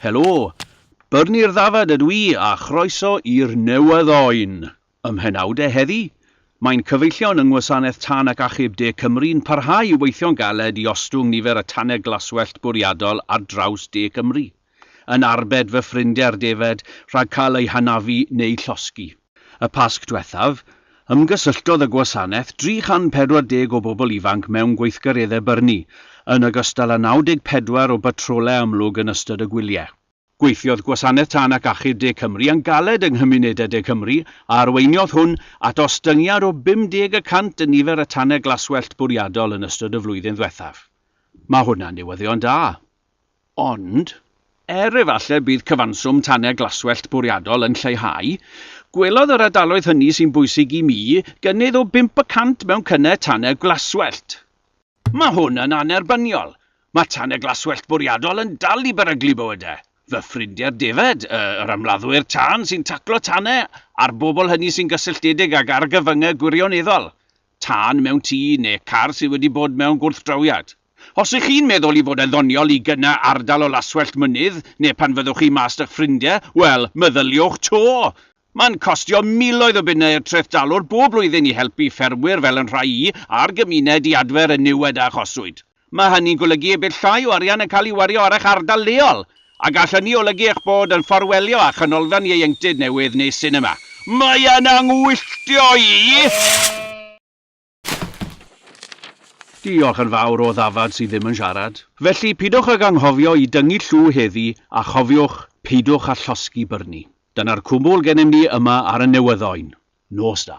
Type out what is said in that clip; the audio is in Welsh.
Helo! Byrni'r ddafad ydw i a chroeso i'r newydd oen! Ym mhenawde heddi, mae'n cyfeillion yng Ngwasanaeth Tân ac Achub De Cymru'n parhau i weithio'n galed i ostwng nifer y tanau glaswellt bwriadol ar draws De Cymru, yn arbed fy ffrindiau'r defaid rhag cael eu hanafu neu llosgi. Y Pasg diwethaf, ymgysylltodd y gwasanaeth 340 o bobl ifanc mewn gweithgareddau byrni, yn ogystal â 94 o batrolau amlwg yn ystod y gwyliau. Gweithiodd Gwasanaeth Tân ac Achub De Cymru yn galed yng nghymunedau de Cymru, a arweiniodd hwn at ostyngiad o 50 y cant yn nifer y tanau glaswellt bwriadol yn ystod y flwyddyn ddiwethaf. Mae hwnna'n newyddion da! Ond, er efallai bydd cyfanswm tanau glaswellt bwriadol yn lleihau, gwelodd yr ardaloedd hynny sy'n bwysig i mi gynnydd o bump y cant mewn cynnau tanau glaswellt. Mae hwn yn annerbyniol. Mae tanau glaswellt bwriadol yn dal i beryglu bywydau fy ffrindiau'r defaid, yr ymladdwyr tân sy'n taclo tanau a'r bobl hynny sy'n gysylltiedig ag argyfyngau gwirioneddol. tân mewn tŷ neu car sydd wedi bod mewn gwrthdrawiad. Os ych chi'n meddwl ei fod e'n ddoniol i gyna ardal o laswellt mynydd neu pan fyddwch chi mas 'da'ch ffrindiau, wel, meddyliwch 'to! Mae'n costio miloedd o bunnau i'r Treth Dalwr bob blwyddyn i helpu ffermwyr fel 'yn rhai i, a'r gymuned i adfer y niwed a achoswyd. Mae hynny'n golygu y bydd llai o arian yn cael ei wario ar eich ardal leol, a gall hynny olygu eich bod yn fforwelio â chanolfan ieuenctid newydd neu sinema. Mae e'n anghwylltio i! Diolch yn fawr o ddafad sydd ddim yn siarad. Felly, pidwch ag anghofio i dyngu llw heddi a chofiwch, peidiwch â llosgi byrni. Dyna'r cwbl gennym ni yma ar y Newyddoen. Nos da.